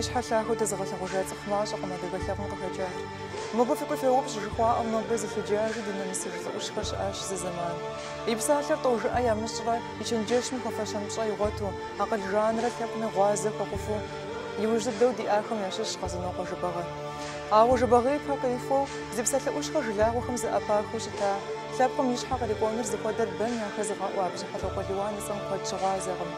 Щхьэлъахуэ дэзыгъэлъэгъужа цӏыху мащӏэкъым адыгэ лъэпкъым къыхэкӏар. Мыбы фыкӏуи феупщӏ, жыхуаӏэм, нобэ зылъыджажи дынэмысыж лӏы ӏущхэр щыӏащ зы зэман. И псалъэр тӏэужыӏэ ямыщӏрэ, и чэнджэщым хуэфэщэн пщӏэ игъуэту, акъыл жанрэ лъэпкъми гъуазэ хуэхъуфу, иужь дыдэу диӏахэм ящыщщ Къэзанокъуэ Жэбагъы. Ауэ Жэбагъы ипэ къихуэу, зи псалъэ ӏущхэр жылагъуэхэм зэӏэпахыу щыта лъэпкъым и щхьэ кърикӏуэныр зыхуэдэр бэм яхэзыгъэӏуа Бжьыхьэлӏокъуэ Лиуан и цӏэм куэд щыгъуазэкъым.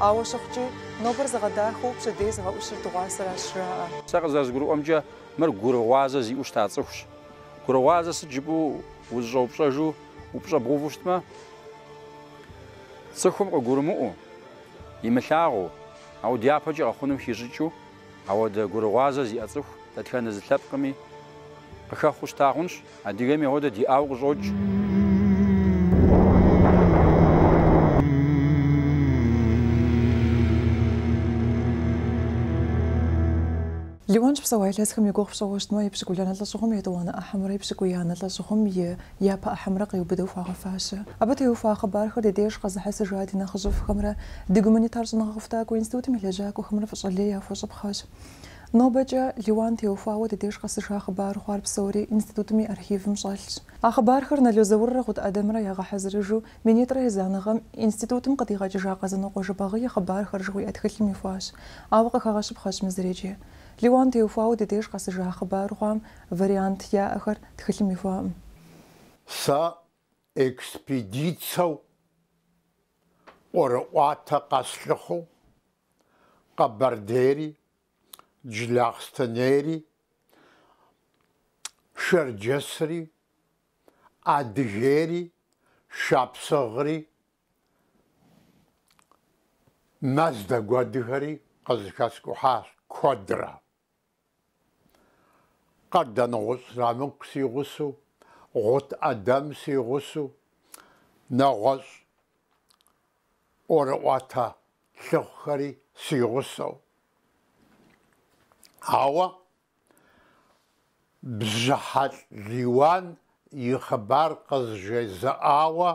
Ауэ щыхъукӏи, нобэр зыгъэдахэу пщэдей зыгъэӏущыр дыгъуасэращ жаӏэ. Сэ къызэрызгурыӏуэмкӏэ, мыр гурыгъуазэ зиӏэу щыта цӏыхущ. Гурыгъуазэ сыт жыпӏэу узыщӏэупщӏэжу, упщӏэ бгъэуву щытмэ, цӏыхум къыгурымыӏуэу, имылъагъуу, ауэ дяпэкӏи къэхъунум хищӏыкӏыу, ауэдэ гурыгъуазэ зиӏэ цӏыху дэтхэнэ зы лъэпкъми къыхэхъуу щыта хъунщ, адыгэми ауэдэ диӏауэ къыщӏокӏ. Лиуан щыпсэуа илъэсхэм и гугъу пщӏыуэ щытмэ, епщыкӏубланэ лӏэщӏыгъуэм и етӏуанэ ӏыхьэмрэ епщыкӏуиянэ лӏэщӏыгъуэм и Япэ ӏыхьэмрэ къиубыдэу хуагъэфащэ. Абы теухуа хъыбархэр ди деж къэзыхьэсыжа ди нэхъыжьыфӏхэмрэ ди гуманитар щӏэныгъэ къэхутакӏуэ институтым и лэжьакӏуэхэмрэ фӏыщӏэ лей яхуэщӏыпхъэщ. Нобэкӏэ Лиуан теухуауэ ди деж къэсыжа хъыбар хъуар псори институтым и архивым щӏэлъщ. А хъыбархэр Нало Зауррэ Гъут Ӏэдэмрэ ягъэхьэзырыжу минитӏрэ езанэ гъэм институтым къыдигъэкӏыжа Къэзанокъуэ Жэбагъы и хъыбархэр жыхуиӏэ тхылъым ихуащ. Ауэ къыхэгъэщыпхъэщ мы зыр икӏи. Лиуан теухуауэ ди деж къэсыжа хъыбар хъуам Вариант яӏэхэр тхылъым ихуаӏым. Сэ экспедицэу ӏуэрыӏуатэ къэслъыхъуу Къэбэрдейри, Джылахъстэнейри, Шэрджэсри, Адыгейри, Шапсыгъри, Мэздэгу адыгэри къызэхэскӏухьащ куэдрэ. Къардэнгъущӏ Зырамыку си гъусэу, Гъут Ӏэдэм си гъусэу, нэгъуэщӏ ӏуэрыӏуатэ лъыхъухэри си гъусэу. Ауэ Бжьыхьэлӏ Лиуан и хъыбар къызжезыӏауэ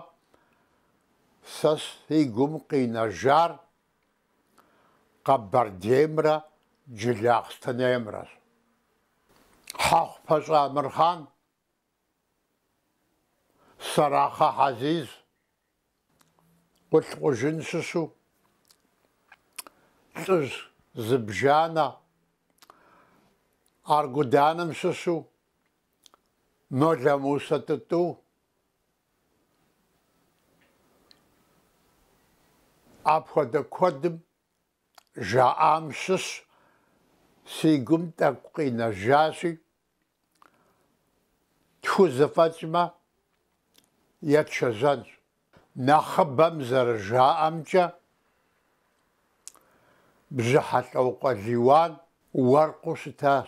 сэ си гум къинэжар Къэбэрдеймрэ Джылахъстэнеймрэщ. Хьэхъупащӏэ Амырхъан, Сэрахъэ Хьэзиз, Къулъкъужын щыщу лӏыжь зыбжанэ, Аргуданым щыщу Молэмусэ Тӏытӏу, Апхуэдэ куэдым жаӏам щыщ си гум тӏэкӏу къинэжащи, тхузэфӏэкӏмэ, етшэжьэнщ. Нэхъыбэм зэрыжаӏэмкӏэ, Бжьыхьэлӏокъуэ Лиуан уэркъыу щытащ.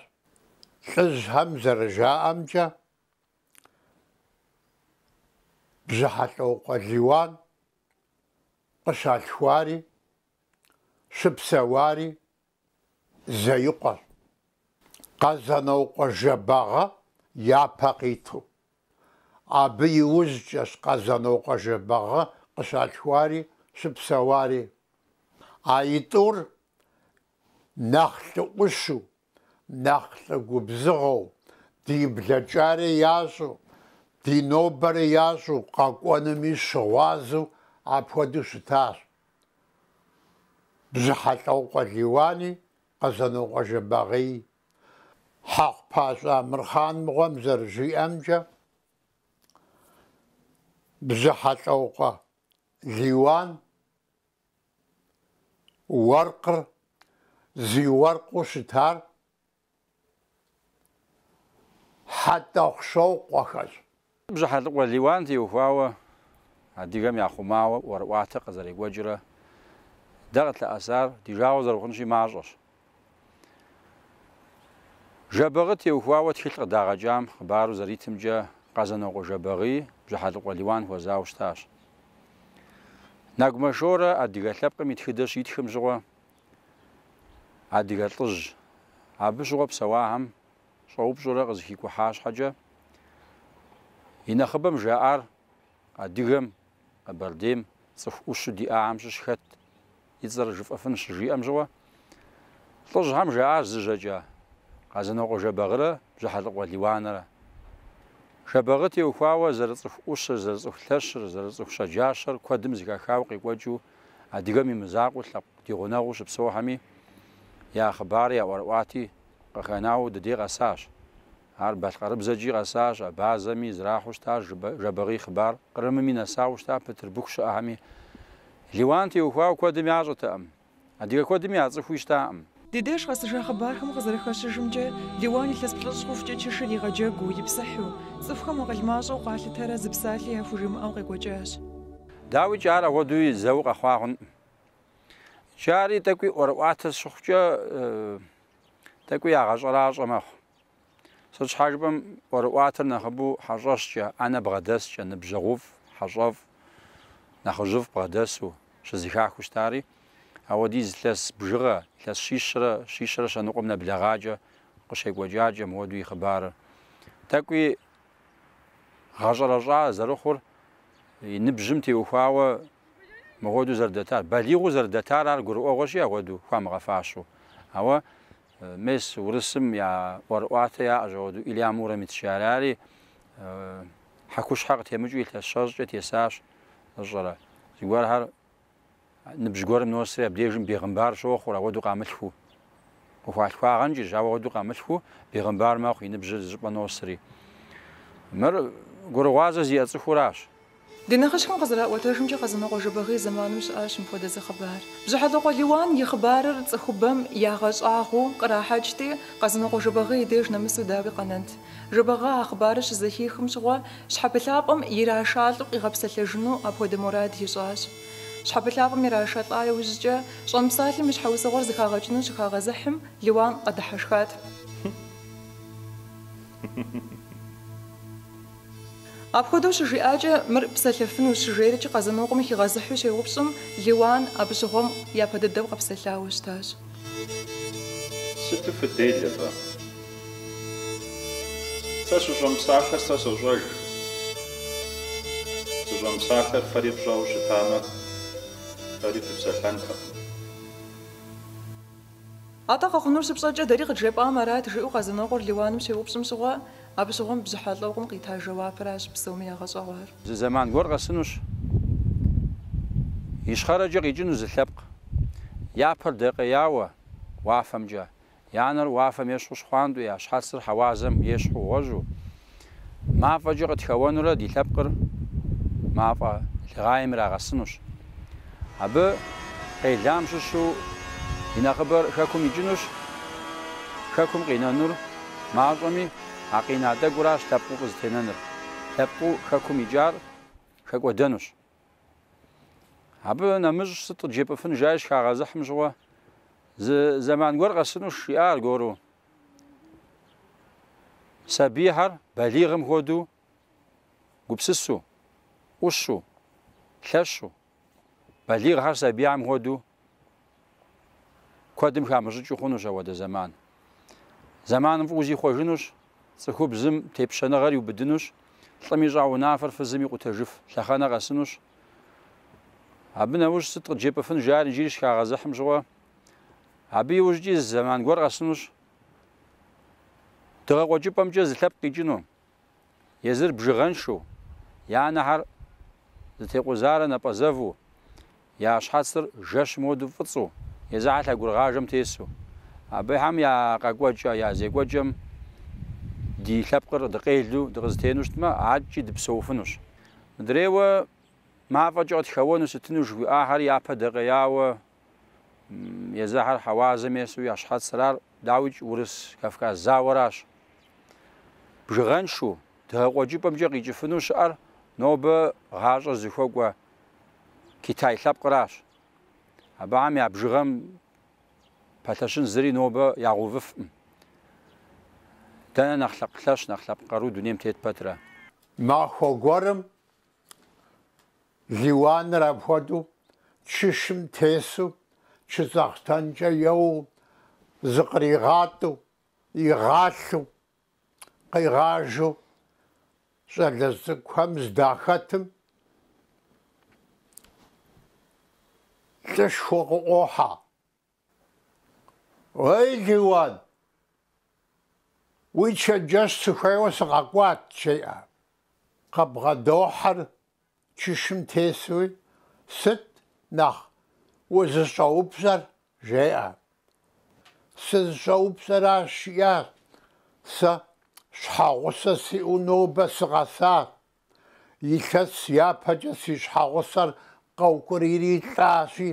Лӏыжьхэм зэрыжаӏэмкӏэ, Бжьыхьэлӏокъуэ Лиуан къыщалъхуари щыпсэуари Зеикъуэщ, Къэзанокъуэ Жэбагъы япэ къиту. Абы иужькӏэщ Къэзанокъуэ Жэбагъы къыщалъхуари щыпсэуари. А итӏур нэхъ лӏыӏущу нэхъ лӏы губзыгъэу, ди блэкӏари ящӏу, ди нобэри ящӏу къэкӏуэнуми щыгъуазэу апхуэдэу щытащ. Бжьыхьэлӏокъуэ Лиуани, Къэзанокъуэ Жэбагъыи. Хьэхъупащӏэ Амырхъан мыгъуэм зэрыжиӏэмкӏэ, Бжьыхьэлӏокъуэ Лиуан, Уэркъыр зи уэркъыу щытар Хьэтӏохъущокъуэхэщ. Бжьыхьэлӏыкъуэ Лиуан теухуауэ адыгэм яхъумауэ ӏуэрыӏуатэ къызэрекӏуэкӏрэ дэ къытлъэӏэсар ди жагъуэ зэрыхъунщи мащӏэщ. Жэбагъы теухуауэ тхылъ къыдагъэкӏам хъыбару зэритымкӏэ Къэзанокъуэ Жэбагъыи Бжьыхьэлӏыкъуэ Лиуан хуэзауэ щытащ. Нэгумэ Шорэ адыгэ лъэпкъым и тхыдэ щитхым щыгъуэ адыгэ лӏыжь абы щыгъуэ псэуахэм щӏэупщӏурэ къызыхикӏухьа щхьэкӏэ, и нэхъыбэм жаӏар адыгэм, Къэбэрдейм цӏыху ӏущу диӏахэм щыщ хэт и цӏэр жыфӏэфын щыжиӏэм щыгъуэ, лӏыжьхэм жаӏащ зы жьэкӏэ, Къэзанокъуэ Жэбагърэ Бжьыхьэлӏыкъуэ Лиуанэрэ. Жэбагъы теухуауэ зэрыцӏыху ӏущыр, зэрыцӏыху лъэщыр, зэрыцӏыху щэджащэр куэдым зыхахауэ къекӏуэкӏыу адыгэм и мызакъуэу лъэпкъ ди гъунэгъуу щыпсэухэми я хъыбари, я ӏуэрыӏуати къыхэнауэ ди дей къэсащ. Ар балъкъэрыбзэкӏи къэсащ, абазэми зэрахьэу щытащ Жэбагъы и хъыбар Кърымми нэсауэ щыта Пытырбыху щыӏэхэми. Лиуан теухуауэ куэдым ящӏэтэкъым. Адыгэ куэдми я цӏыхуи щытакъым. Ди деж къэсыжа хъыбархэм къызэрыхэщыжымкӏэ, Лиуан илъэс плӏыщӏ хъухукӏэ чышыр игъэджэгуу, ипсыхьу, цӏыхухэм акъыл мащӏэу къалъытэрэ зы псалъи яхужимыӏэу къекӏуэкӏащ. Дауикӏи ар ахуэдэуи зэуэ къэхъуа хъункъым. Икӏи ари тӏэкӏуи ӏуэрыӏуатэ щыхъукӏэ, тӏэкӏуи ягъэщӏэращӏэ мэхъу. Сыт щхьа жыпӏэм ӏуэрыӏуатэр нэхъыбэу хьэщӏэщкӏэ, ӏэнэ бгъэдэскӏэ, ныбжьэгъуфӏ, хьэщӏэфӏ, нэхъыжьыфӏ бгъэдэсу щызэхахыу щытари, ауэдиз илъэс бжыгъэ, илъэс щищрэ щищрэ щэныкъуэм нэблэгъакӏэ къыщекӏуэкӏакӏэ мыуэду и хъыбарыр. Тӏэкӏуи гъэщӏэрэщӏа зэрыхъур, и ныбжьым теухуауэ мыхуэдэу зэрыдэтар, балигъыу зэрыдэтар ар гурыӏуэгъуэщи, ауэду хуамыгъэфащэу. Ауэ Мес, урысым я ӏуэрыӏуатэ яӏэщ ауэдэу, Илья Муромецкӏэ. Арари хьэкущхьэ къытемыкӏыу илъэс щэщӏкӏэ тесащ, фщӏэрэ. Зыгуэрхэр ныбжь гуэрым носри, абдежым бегъымбар щохъур, ауэдэу къамылъхуу. Къыхуалъхуагъэнкӏэщ, ауэ ауэдэу къамылъхуу бегъымбар мэхъу, и ныбжьыр зыщӏыпӏэ носри. Мыр гурыгъуазэ зиӏэ цӏыхуращ. Ди нэхъыжьхэм къызэраӏуэтэжымкӏэ, Къэзанокъуэ Жэбагъы и зэманым щыӏащ мыпхуэдэ зы хъыбар. Бжьыхьэлӏыкъуэ Лиуан и хъыбарыр цӏыхубэм ягъэщӏагъуэу кърахьэкӏти, Къэзанокъуэ Жэбагъы и деж нэмысу дауи къэнэнт? Жэбагъы а хъыбарыр щызэхихым щыгъуэ, щхьэпылъапӏэм ирашалӏэу къигъэпсэлъэжыну апхуэдэ мурад ищӏащ. Щхьэпылъапӏэм ирашалӏа иужькӏэ, щӏэмыпсалъэм и щхьэусыгъуэр зэхагъэкӏыну щыхагъэзыхьым, Лиуан къэдыхьэшхат. Апхуэдэу щыжиӏакӏэ, мыр псэлъэфынущ жиӏэри Къэзанокъуэм хигъэзыхьу щеупщӏым, Лиуан абы щыгъуэм япэ дыдэу къэпсэлъауэ щытащ. Сыту фыделэ фэ. Сэ сыщӏэмыпсалъэр сэ сощӏэж. Сыщӏэмыпсалъэр фэри фщӏэу щытамэ, фэри фыпсэлъэнтэкъым. Атӏэ къэхъунур щыпщӏэкӏэ дэри къыджепӏам арат, жиӏэу Къэзанокъуэр Лиуаным щеупщӏым щыгъуэ, абы щыгъуэм Бжьыхьэлӏыкъуэм къита жэуапыращ псоми ягъэщӏэгъуар. Зы зэман гуэр къэсынущ, ищхъэрэкӏэ къикӏыну зы лъэпкъ. Я пэр дэкъеяуэ уафэмкӏэ, я нэр уафэм ещхьу щхъуантӏэу, я щхьэцыр хьэуазэм ещхьу гъуэжьу, Мафӏэкӏэ къытхэуэнурэ ди лъэпкъыр мафӏэ лыгъейм ирагъэсынущ. Абы къелам щыщу и нэхъыбэр Хэкум икӏынущ. Хэкум къинэнур мащӏэми, а къина тӏэкӏуращ лъэпкъыу къызэтенэнур. Лъэпкъыу Хэкум икӏар хэкӏуэдэнущ. Абы нэмыщӏ сыт къыджепӏыфын жаи щхагъэзыхьым щыгъуэ, зы зэман гуэр къэсынущ, жиӏа аргуэру. Сабийхэр балигъым хуэдэу гупсысу, ӏущу, лъэщу, балигъхэр сабийхьэм хуэдэу Куэдым хамыщӏыкӏыу хъунущ ауэдэ зэман. Зэманым фӏыуэ зихъуэжынущ, цӏыхубзым тепщэныгъэр иубыдынущ, лӏым ищӏа унафэр фызым икъутэжыф лъэхъэнэ къэсынущ. Абы нэужь сыт къыджепӏыфын жари иджыри щхагъэзыхьым щыгъуэ. Абы иужькӏи зэман гуэр къэсынущ. Дыгъэ къуэкӏыпӏэмкӏэ зы лъэпкъ къикӏыну. езыр бжыгъэншэу, я нэхьэр зытекъузарэ напӏэзэву, я щхьэцыр жэщым уэду фӏыцӏу, езыхьэ лъэгурыгъажэм тесу. Абыхэм я къэкӏуэкӏэ, я зекӏуэкӏэм ди лъэпкъыр дыкъелу дыкъызэтену щытмэ, адэкӏи дыпсэуфынущ. Мыдрейуэ мафӏэкӏэ къытхэуэну сытыну жыхуиӏахэр япэ дэкъеяуэ Езыхьэр хьэуазэм есу я щхьэцырар, дауикӏ, Урыс-Кавказ зауэращ. Бжыгъэншэу, дыгъэкъуэкӏыпӏэмкӏэ къикӏыфыну щыӏэр нобэ гъащӏэр зыхуэкӏуэ Китай лъэпкъыращ. Абыхэм я бжыгъэм пэлъэщын зыри нобэ ягъэувыфкъым. Дэнэ нэхъ лъэпкъ лъэщ, нэхъ лъэпкъ къару дунейм тет пэтрэ? Махуэ гуэрым Лиуаныр апхуэдэу чышым тесу, чыцӏэхътэнкӏэ еуэу, зыкъригъатӏэу, игъалъэу, къигъажэу щӏалэжь цӏыкӏухэм здахэтым, лӏышхуэ къыӏуохьэ. Уэй, Лиуан, уи чэнджэщ сыхуейуэ сыкъэкӏуат, жеӏэ. Къэбгъэдохьэр чышым тесуи, сыт нэхъ узыщӏэупщӏэр, жеӏэ. Сызыщӏэупщӏэращ, жиӏащ, сэ щхьэгъусэ сиӏэу нобэ сыкъэсат. Илъэс япэкӏэ си щхьэгъусэр къэукӏурийри лӏащи,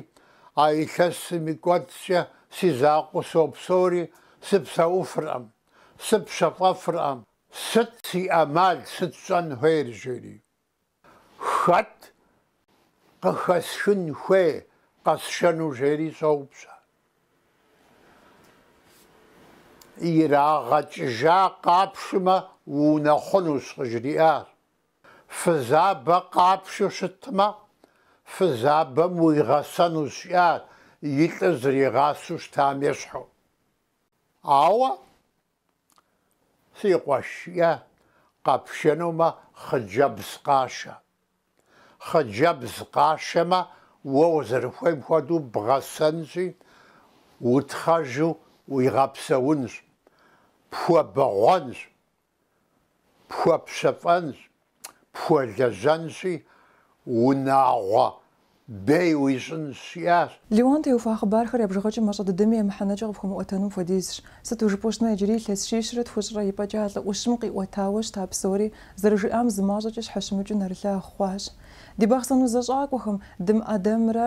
а илъэсым и кӏуэцӏкӏэ си закъуэу сопсэури, сыпсэуфыркъым, сыпщэфӏэфыркъым, сыт си ӏэмал, сыт сщӏэн хуейр, жери. Хэт къыхэсхын хуей къэсшэну, жери щӏоупщӏэ. Ирагъэкӏыжа къапшмэ, уунэхъунущ, къыжриӏащ. Фызабэ къапшу щытмэ, фызабэм уигъэсэнущ, жиӏащ, и лӏыр зэригъасэу щытам ещхьу. Ауэ Си къуэш, жиӏащ, къэпшэнумэ хъыджэбз къашэ. Хъыджэбз къашэмэ, уэ узэрыхуейм хуэдэу бгъэсэнщи, утхъэжу уигъэпсэунщ, пхуэбэгъуэнщ, пхуэпщэфӏэнщ. пхуэлэжьэнщи, унагъуэ бей уищӏынщ, жиӏащ. Лиуан теухуа хъыбархэр я бжыгъэкӏэ мащӏэ дыдэми я мыхьэнэкӏэ къыпхуэмыӏуэтэнум хуэдизщ. Сыту жыпӏэу щытмэ, иджыри илъэс щищрэ тхущӏрэ ипӏэкӏэ а лӏы ӏущым къиӏуэтауэ щыта псори, зэрыжиӏам зы мащӏэкӏэ щхьэщымыкӏыу нэрылъагъу хъуащ. Ди Бахъсэн узэщӏакӏуэхэм, Дым Ӏэдэмрэ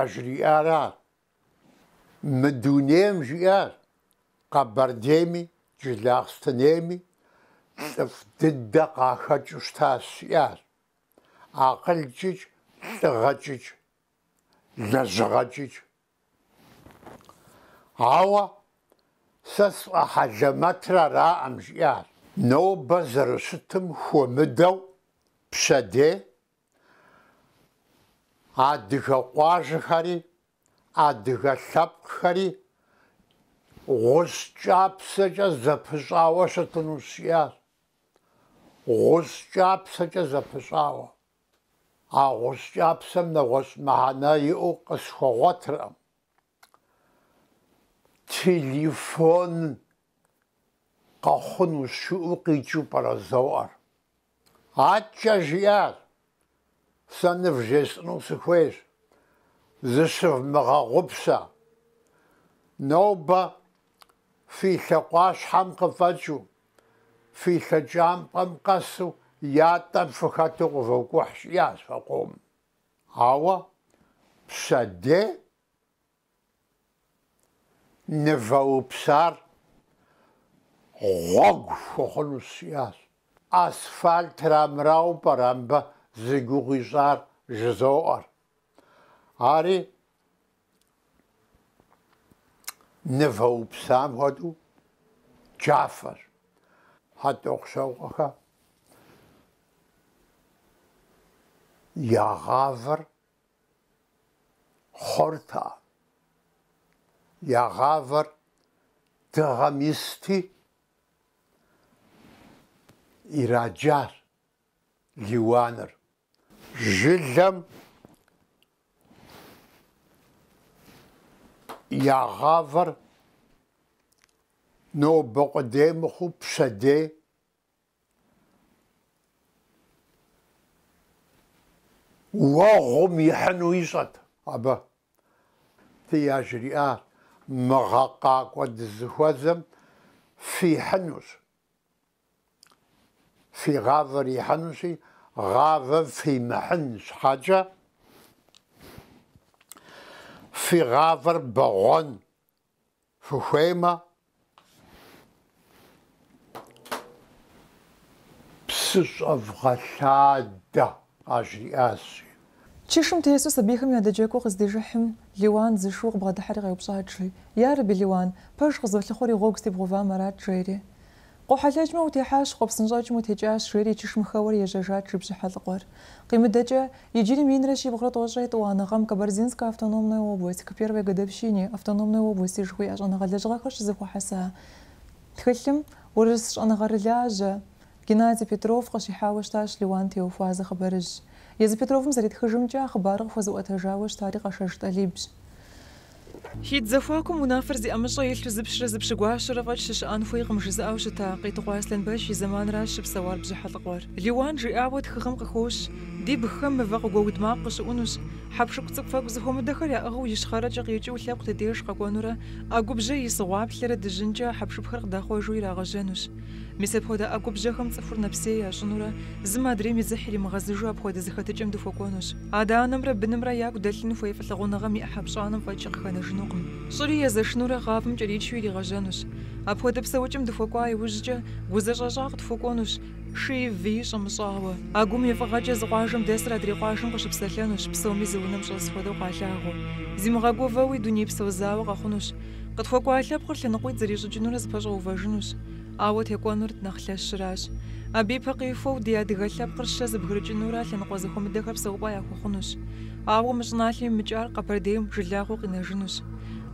Яжриӏарар. Мы дунейм жиӏар Къэбэрдейми Джылахъстэнейми лӏыфӏ дыдэ къахэкӏыу щытащ, жиӏар. Акъылкӏыкӏ, лӏыгъэкӏыкӏ, лэжьыгъэкӏыкӏ. Ауэ сэ сфӏэхьэлэмэтрэ араӏым, жиӏар. Нобэ зэрыщытым хуэмыдэу пщэдей Адыгэ къуажэхэри адыгэ лъэпкъхэри гъущӏ кӏапсэкӏэ зэпыщӏауэ щытынущ, жиӏащ. Гъущӏ кӏапсэкӏэ зэпыщӏауэ. А гъущӏ кӏапсэм нэгъуэщӏ мыхьэнэ иӏэу къысхуэгъуэтыркъым. Телефон къэхъуну щыӏэу къикӏыу пӏэрэ зоӏэр. Адкӏэ жиӏащ, Сэ нывжесӏыну сыхуейщ, зыщывмыгъэгъупщэ. Нобэ фи лъакъуащхьэм къыфӏэкӏыу, фи лъэкӏампӏэм къэсу ятӏэм фыхэту къывокӏухь жиӏащ фэкъом. Ауэ пщэдей Нывэупсар гъуэгу хуэхъунущ, жиӏащ. Асфальтыр армырауэ пӏэрэ мыбы зи гугъу ищӏар жызоӏэр? Ари нывэупсам хуэдэу джафэщ. Хьэтӏохъущокъуэхэм я гъавэр Хъурта. Я гъавэр дыгъэм исти, ираджар Лиуаныр. Жылэм я гъавэр нобэ къудей мыхъуу пщэдей Уэгъум ихьыну ищӏэт абы. Фи яжриӏащ мы гъэ къакӏуэ дызыхуэзэм фихьынущ. Фи гъавэр ихьынущи, гъавэ фимыхьын щхьэкӏэ, фи гъавэр бэгъуэн. Фыхуеймэ, псы щӏэвгъэлъадэ, къажриӏащ. Чышым тесу сабийхэм ядэджэгуу къыздижыхьым, Лиуан зы шыу къыбгъэдыхьэри къеупщӏат, жи, Ярэби, Лиуан, пэж къызолъыхъуэри гъуэгу сытебгъэувам арат, жери. Къохьэлъэкӏмэ, утехьащ, къопсынщӏэкӏмэ утекӏащ, жери чышым хэуэри ежьэжат, жи, Бжьыхьэлӏыкъуэр. Къимыдэкӏэ, иджыри минрэ щибгъурэ тӏощӏрэ етӏуанэ гъэм Кабардинская автономная область, к первой годовщине автономной области жыхуиӏэ щӏэныгъэ лэжьыгъэхэр щызэхуэхьэса тхылъым урыс щӏэныгъэрылажьэ Геннадий Петров къыщихьауэ щытащ Лиуан теухуа зы хъыбарыжь. Езы Петровым зэритхыжымкӏэ, а хъыбарыр къыхуэзыӏуэтэжауэ щытари Къэшэж Тӏалибщ. Хитӏ зэхуакум унафэр зи ӏэмыщӏэ илъу зы пщырэ зы пщыгуащэрэ фӏэкӏ щыщыӏэн хуейкъым жызыӏэу щыта Къетыкъуэ Аслъэнбэч и зэманращ щыпсэуар Бжьыхьэлӏыкъуэр. Лиуан жиӏауэ тхыгъэм къыхощ, Ди бгхэм мывэ къыгуэуд макъ къыщыӏунущ. Хьэпшып цӏыкӏуфэкӏу зыхуэмыдэхэр яӏыгъыу ищхъэрэкӏэ къикӏыу лъэпкъ ди деж къэкӏуэнурэ, ӏэгубжьэ из гъуаплъэрэ дыжьынкӏэ а хьэпшыпхэр къыдахъуэжу ирагъэжьэнущ. Мис апхуэдэ ӏэгубжьэхэм цӏыхур нэпсей ящӏынурэ, зым адрейм и дзыхь иримыгъэзыжу апхуэдэ зэхэтыкӏэм дыхуэкӏуэнущ. Адэ-анэмрэ бынымрэ яку дэлъын хуей фӏылъыгъуныгъэм и ӏыхьэ пщӏанэм фӏэкӏи къыхэнэжынукъым. Щӏыри езэшынурэ гъавэм кӏэричу иригъэжьэнущ. Апхуэдэ псэукӏэм дыхуэкӏуа иужькӏэ, гу зэщӏэщӏа къытхуэкӏуэнущ, шыи-выи щӏэмыщӏауэ. А гум и фӏыгъэкӏэ зы къуажэм дэсыр адрей къуажэм къыщыпсэлъэнущ, псоми зы унэм щӏэс хуэдэу къалъагъуу. Зимыгъэгувэуи, дунейпсо зауэ къэхъунущ. Къытхуэкӏуа лъэпкъыр лъэныкъуитӏ зрищӏыкӏынурэ зэпэщӏэувэжынущ, ауэ текӏуэнур нэхъ лъэщыращ. Абы ипэ къихуэу ди адыгэ лъэпкъыр щэ зэбгрыкӏынурэ лъэныкъуэ зэхуэмыдэхэр псэупӏэ яхуэхъунущ. Ауэ мы щӏыналъэм имыкӏар Къэбэрдейм жылагъуэу къинэжынущ.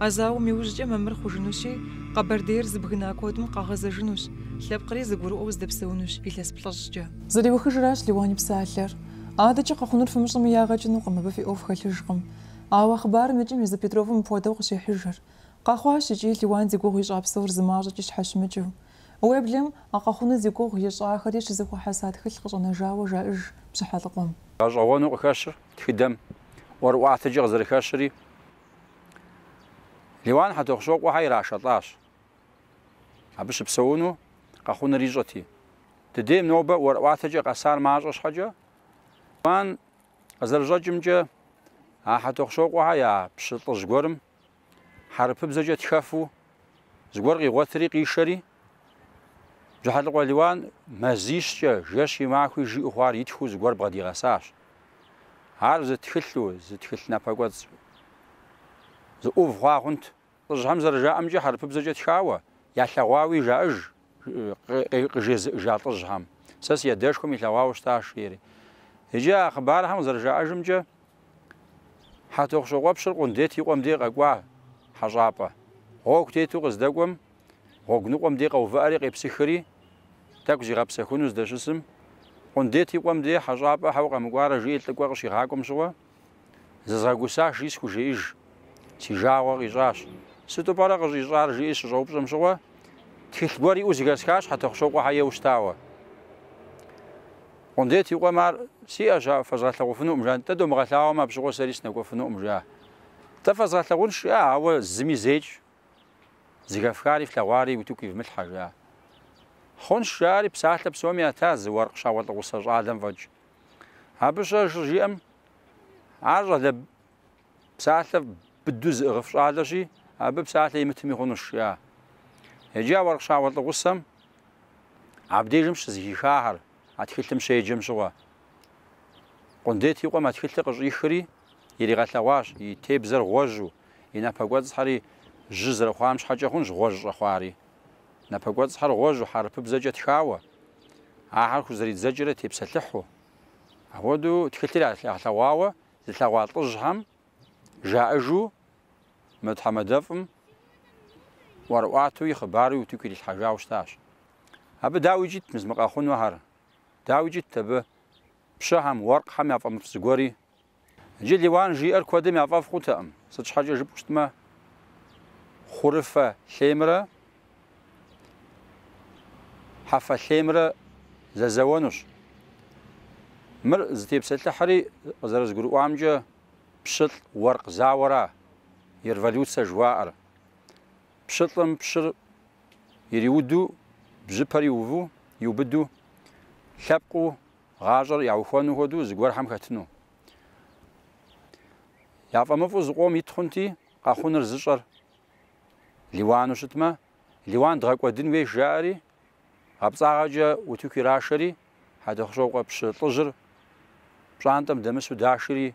А зауэм иужькӏэ мамыр хъужынущи, Къэбэрдейр зыбгына куэдым къагъэзэжынущ, лъэпкъри зыгурыӏуэу здэпсэунущ илъэс плӏыщӏкӏэ. Зэриухыжращ Лиуан и псалъэр. Адэкӏэ къэхъунур фымыщӏэми ягъэ кӏынукъым, абы фи ӏуэху хэлъыжкъым. Ауэ а хъыбарым и кӏэм езы Петровым мыпхуэдэу къыщехьыжыр. Къэхъуащ икӏи Лиуан зи гугъу ищӏа псор зы мащӏэкӏи щхьэщымыкӏыу. Уеблэм а къэхъуну зи гугъу ищӏахэри щызэхуэхьэса тхылъ къыщӏэнэжауэ жаӏэж Бжьыхьэлӏыкъуэм. Гъэщӏэгъуэну къыхэщыр тхыдэм ӏуэрыӏуатэкӏэ къызэрыхэщыри, Лиуан Хьэтӏохъущокъуэхьэ ирашэлӏащ. Абы щыпсэуну къэхъуныр ищӏэти, ди дейм нобэ ӏуэрыӏуатэкӏэ къэсар мащӏэ щхьэкӏэ, Лиуан Къызэрыщӏэкӏымкӏэ, а Хьэтӏохъущокъуэхьэ я пщы лӏыжь гуэрым хьэрыпыбзэкӏэ тхэфу зыгуэр къигъуэтри къишэри, Бжьыхьэлӏыкъуэ Лиуан мазищкӏэ, жэщи махуи жиӏэу хъуар итхыу зыгуэр бгъэдигъэсащ. Ар зы тхылъу, зы тхылъ напэкӏуэцӏ зы ӏув хъуа хъунт. Лӏыжьхэм зэрыжаӏэмкӏэ хьэрыпыбзэкӏэ тхауэ, ялъэгъуауи жаӏэж, жи, къызжезыӏэжа лӏыжьхэм. Сэ си адэшхуэм илъэгъуауэ щытащ, жери. Иджы а хъыбархэм къызэрыжаӏэжымкӏэ, Хьэтӏохъущокъуэпщыр Къундет и къуэм дей къэкӏуа хьэщӏапӏэ. Гъуэгу тету къыздэкӏуэм, гъуэгу ныкъуэм дей къэувыӏэри къепсыхыри, тӏэкӏу зигъэпсэхуну здэщысым, Къундет и къуэм дей хьэщӏапӏэ щхьэ укъэмыкӏуарэ жиӏи лӏыкӏуэ къыщигъакӏуэм щыгъуэ, Зызгъэгусащи схужеӏэж. Си жагъуэ къищӏащ. Сыту пӏэрэ къыуищӏар жиӏи щыщӏэупщӏэм щыгъуэ, тхылъ гуэр иӏэу зыхэсхащ Хьэтӏохъущокъуэхьэ ейуэ щытауэ. Къундет и къуэм ар сиӏэщ, ауэ фэзгъэлъэгъуфынукъым жа. Дэ дыумыгъэлъагъумэ, абы щыгъуэ сэри сынэкӏуэфынукъым жа. Нтӏэ фэзгъэлъэгъунщ, ауэ зыми зеикӏ зыхэфхари флъэгъуари утыку ивмылъхьэ жа. Хъунщ, жаӏэри псалъэ псоми ята зы уэркъ щауэлӏыгъусэ щӏалэм фӏэкӏ. Абы щхьэ щыжиӏэм, ар щӏалэ псалъэ быду зыӏыгъыф щӏалэщи, абы псалъэ имытми хъунущ, жиӏа. Иджы а уэркъ щауэлӏыгъусэм абдежым щызыхихахэр, а тхылъым щеджэм щыгъуэ. Къундет и къуэм а тхылъыр къыщӏихри, иригъэлъэгъуащ, и тебзэр гъуэжьу, и напэ кӏуэцӏхьэри жьы зэрыхъуам щхьэкӏэ хъунщ гъуэжь щӏэхъуари. Напэ кӏуэцӏхьэр гъуэжьу, хьэрыпыбзэкӏэ тхауэ, ахэр хузэридзэкӏрэ тепсэлъыхьу. Апхуэдэу тхылъыр ялъэгъуауэ зылъэгъуа лӏыжьхэм жаӏэжу мы тхьэмадэфӏым ӏуэрыӏуатуи хъыбаруи утыку ирилъхьэжауэ щытащ. Абы дауикӏ ит мыс мы къэхъунухэр, дауикӏ ит абы пщыхэм, уэркъхэм я фӏэмыфӏ зыгуэри. Иджы Лиуан жиӏэр куэдым я фӏэфӏ хъутэкъым, сыт щхьэкӏэ жыпӏэу щытмэ, хъурыфэ лъеймрэ хьэфэ лъеймрэ зэзэуэнущ. Мыр зытепсэлъыхьри, къызэрызгурыӏуамкӏэ, пщылӏ уэркъ зауэра и революцэ жыхуаӏэр. Пщылӏым пщыр ириуду, бжьыпэр иуву, иубыду, лъэпкъыу Гъащӏэр яухуэну хуэдэу зыгуэрхэм хэтыну. Яфӏэмыфӏу зыкъом ит хъунти, къэхъуныр зыщӏэр Лиуану щытмэ, Лиуан дгъэкӏуэдын хуейщ жаӏэри, гъэпцӏагъэкӏэ утыку ирашэри, Хьэтӏохъущокъуэ пщы лӏыжьыр пщӏантӏэм дэмысу дашри,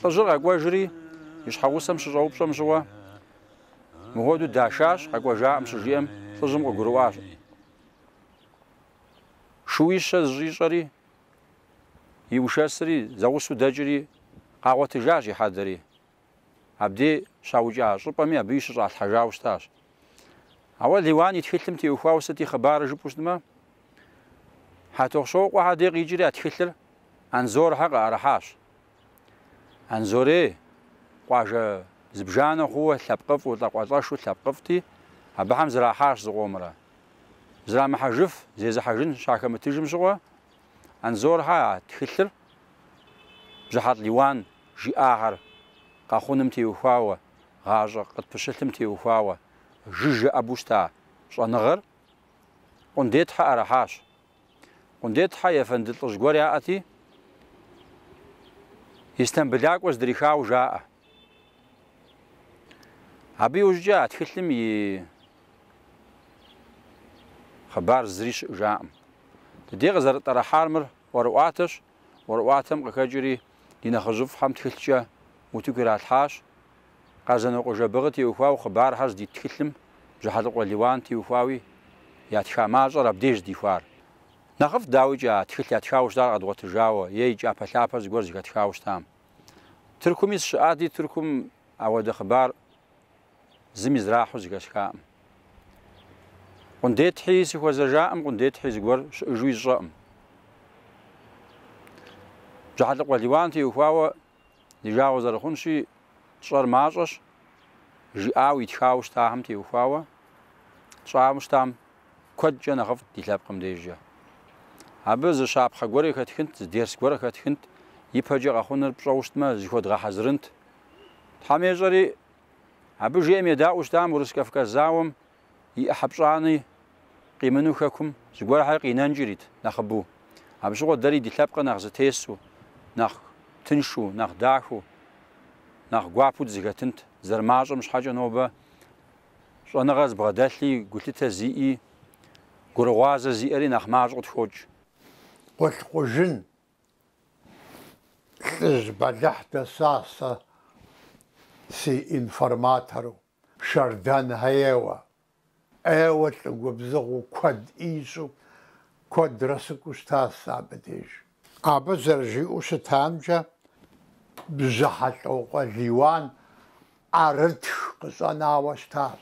Лӏыжьыр къэкӏуэжри, и щхьэгъусэм щыщӏэупщӏэм щыгъуэ, мыхуэдэу дашащ, къэкӏуэжакъым щыжиӏэм, лӏыжьым къыгурыӏуащ. Шууищэ зыщӏищӏэри, игъэшэсри, зэгъусэу дэкӏри, къагъуэтыжащ и хьэдэри. Абдей щаукӏа щӏыпӏэми абы и щыщӏалъхьэжауэ щытащ. Ауэ Лиуан и тхылъым теухуауэ сыт и хъыбарыр жыпӏэу щытмэ, Хьэтохъщокъуэхьэр дей къикӏри а тхылъыр Анзорхьэ къыӏэрыхьащ. Анзорей, къуажэ зыбжанэ хъууэ лъэпкъыфӏу, лӏакъуэлӏэшу лъэпкъыфӏти, абыхэм зрахьащ зыкъомрэ. Зрамыхьэжыф, зезыхьэжын щахэмытыжым щыгъуэ, Анзорхьэ а тхылъыр Бжьыхьэлӏ Лиуан жиӏахэр къэхъуным теухуауэ, гъащӏэ къытпыщылъым теухуауэ жыжьэ ӏэбэу щыта щӏэныгъэр Къундетхьэ ӏэрыхьащ. Къундетхьэ ефэнды лӏыжь гуэр яӏэти, Истамбылакӏуэ здрихауэ жаӏэ. Абы иужькӏэ а тхылъым и хъыбар зыри щыӏыжакъым. Дыдей къызэрытӏэрыхьар мыр ӏуэрыӏуатэщ, ӏуэрыӏуатэм къыхэкӏри ди нэхъыжьыфӏхэм тхылъкӏэ утыку иралъхьащ. Къэзанокъуэ Жэбагъы теухуауэ хъыбархэр здит тхылъым Бжьыхьэлӏыкъуэ Лиуан теухуауи ятха мащӏэр абдеж здихуар. Нэхъыфӏт, дауикӏэ, а тхылъ ятхауэ щытар къэдгъуэтыжауэ е и кӏапэлъапэр зыгуэр зыхэтхауэ щытам. Тыркуми сыщыӏати, Тыркум ауэдэ хъыбар зыми зрахьу зыхэсхакъым. Къундетхьи сыхуэзэжакъым, къундетхьи зыгуэр щыӏыжуи сщӏэкъым. Бжьыхьэлӏыкъуэ Лиуан теухуауэ ди жагъуэ зэрыхъунщи, тщӏэр мащӏэщ, жиӏауэ итхауэ щытахэм теухуауэ тщӏауэ щытам куэдкӏэ нэхъыфӏт ди лъэпкъым дежкӏэ. Абы зы щапхъэ гуэр къыхэтхынт, зы дерс гуэр къыхэтхынт, ипэкӏэ къэхъуныр пщӏэу щытмэ, зыхуэдгъэхьэзырынт. Тхьэм ещӏэри, абы жиӏэм едаӏуэу щытам Урыс-Кавказ зауэм и ӏыхьэ пщӏани къимыну хэкум зыгуэрхьэр къинэнкӏи ирит нэхъыбэу. Абы щыгъуэ дэри ди лъэпкъыр нэхъ зытесу, нэхъ тыншу, нэхъ дахэу, нэхъ гуапэу дызыхэтынт, зэрымащӏэм щхьэкӏэ нобэ щӏэныгъэ зыбгъэдэлъи, гулъытэ зиӏи, гурыгъуазэ зиӏэри нэхъ мащӏэу къытхокӏ. Къулъкъужын лӏыжь бэлыхь дэсащ сэ си информатору, Шэрдан Хьеуэ. ӏейуэ лӏы губзыгъэу куэд ищӏу куэдрэ сыкӏуэу щытащ сэ абы деж. Абы зэрыжиӏэу щытамкӏэ, Бжьыхьэлӏокъуэ Лиуан ӏэрытх къыщӏэнауэ щытащ,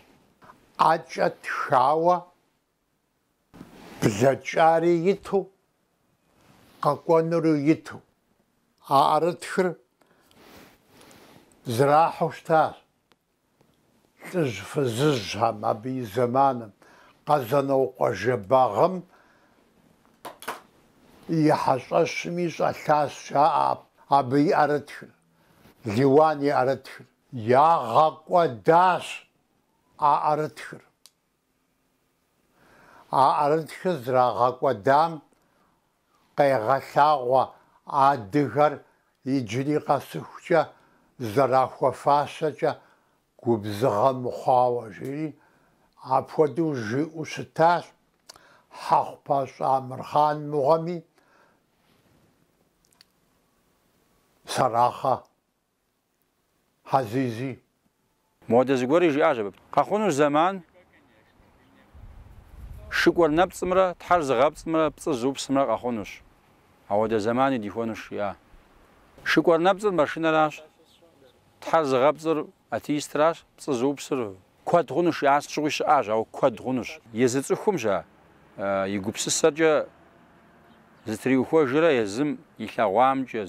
ӏэкӏэ тхауэ блэкӏари иту, къэкӏуэнури иту. А ӏэрытхыр зэрахьэу щытащ. Лӏыжь фызыжьхэм абы и зэманым Къэзанокъуэ Жэбагъым и хьэщӏэщми щӏэлъащ жаӏэ абы и ӏэрытхыр, Лиуан и ӏэрытхыр. Ягъэкӏуэдащ а ӏэрытхыр. А ӏэрытхыр зэрагъэкӏуэдам къегъэлъагъуэ адыгэр иджыри къэсыхукӏэ зэрахуэфащэкӏэ губзыгъэ мыхъуауэ, жери апхуэдэу жиӏэу щытащ, Хьэхъупащӏэ Амырхъан мыгъуэми, Сэрахъэ Хьэзизи. Моуэдэ зыгуэри жиӏащ абы. Къэхъунущ зэман шыкӏуэр нэпцӏымрэ тхьэр зыгъэпцӏымрэ пцӏы зыупсымрэ къэхъунущ. Ауэдэ зэмани дихуэнущ, жиӏа. Шыкӏуэр нэпцӏыр машинэращ, тхьэр зыгъэпцӏыр атеистращ, пцӏы зыупсыр Куэд хъунущ, жиӏа, сыт щыгъуи щыӏащ, ауэ куэд хъунущ. Езы цӏыхум щэ и гупсысэркӏэ зытриухуэжрэ езым илъэгъуамкӏэ,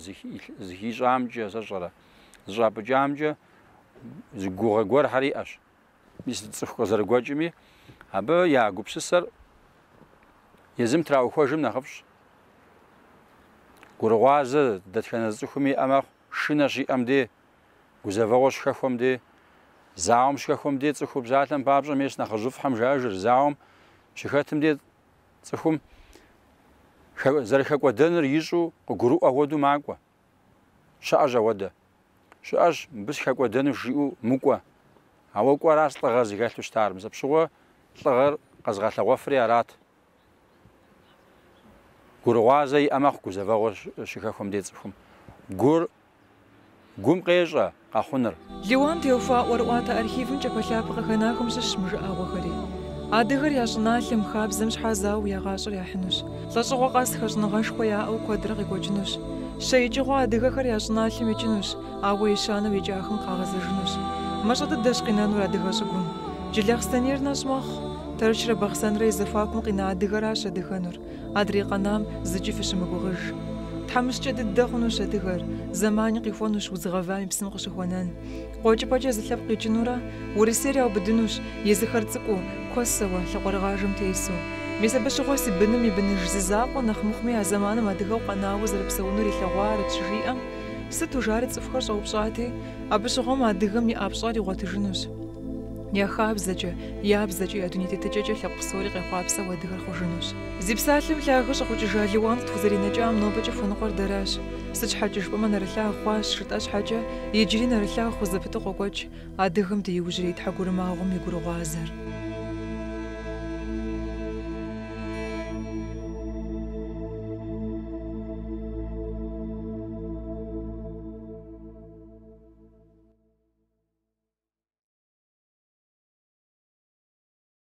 зыхищӏамкӏэ, сэ сщӏэрэ, зыщӏапӏыкӏамкӏэ зы гугъэ гуэрхэр иӏэщ. Мис цӏыху къызэрыгуэкӏми, абы я гупсысэр езым траухуэжым нэхъыфӏщ. Гурыгъуазэ дэтхэнэ зы цӏыхуми иӏэ мэхъу, шынэ щиӏэм дей. Гузэвэгъуэ щыхэхуэм дей, зауэм щыхэхуэм дей цӏыхур псалъэм папщӏэ мес нэхъыжьыфӏхэм жаӏэжыр, зауэм щыхэтым дей цӏыхум зэрыхэкӏуэдэныр ищӏу къыгурыӏуэ хуэдэу макӏуэ. Щыӏэщ ауэдэ. Щыӏэщ мыбы сыхэкӏуэдэну жиӏэу мыкӏуэ. Ауэ кӏуэращ лӏыгъэр зыхэлъу щытар, мис апщыгъуэ лӏыгъэр къэзыгъэлъэгъуэфри арат, Гурыгъуазэ иӏэ мэхъу гузэвэгъуэ щыхэхуэм де цӏыхум. Гур гум къещӏэ къэхъуныр. Лиуан теухуа ӏуэрыӏуатэ архивым кӏапэлъапэ къыхэнахэм щыщщ мы жыӏэгъуэхэри. Адыгэр я щӏыналъэм, хабзэм щхьэ зауэу я гъащӏэр яхьынущ. Лӏэщӏыгъуэ къэс хэщӏыныгъэшхуэ яӏэу куэдрэ къекӏуэкӏынущ. Щэ икӏыгъуэ адыгэхэр я щӏыналъэм икӏынущ, Ауэ ещанэу икӏахэм къагъэзэжынущ. Мащӏэ дыдэщ къинэнур адыгэ щӏыгум. Джылахъстэнейр нэщӏ мэхъу. Тэрчрэ Бахъсэнрэ и зэхуакум къина адыгэращ адыгэнур. Адрей къэнам зыкӏи фыщымыгугъыж. Тхьэмыщкӏэ дыдэ хъунущ адыгэр. Зэмани къихуэнущ удз гъэвам и псым къыщыхуэнэн. Къуэкӏыпӏэкӏэ зы лъэпкъ къикӏынурэ, Урысейр яубыдынущ, езыхэр цӏыкӏуу, куэсэуэ, лъакъуэрыгъажэм тесу. Мис абы щыгъуэ си быным и быныж зы закъуэ нэхъ мыхъуми а зэманым адыгэу къэнауэ зэрыпсэунур илъэгъуарэт щыжиӏэм, Сыту жари цӏыхухэр щӏэупщӏати, абы щыгъуэм адыгэм и пщӏэр игъуэтыжынущ. Я хабзэкӏэ, я бзэкӏэ, я дуней тетыкӏэкӏэ лъэпкъ псори къехъуапсэу адыгэр хъужынущ. Зи псалъэм лъагэ щӏэхъукӏыжа Лиуан къытхузэринэкӏам нобэкӏэ хуэныкъуэр дэращ. Сыт щхьэкӏэ жыпӏэмэ нэрылъагъу хъуащ жытӏэ щхьэкӏэ, иджыри нэрылъагъу хъу зэпыту къокӏуэкӏ. Адыгэм ди иужьрей тхьэгурымагъуэм и гурыгъуазэр.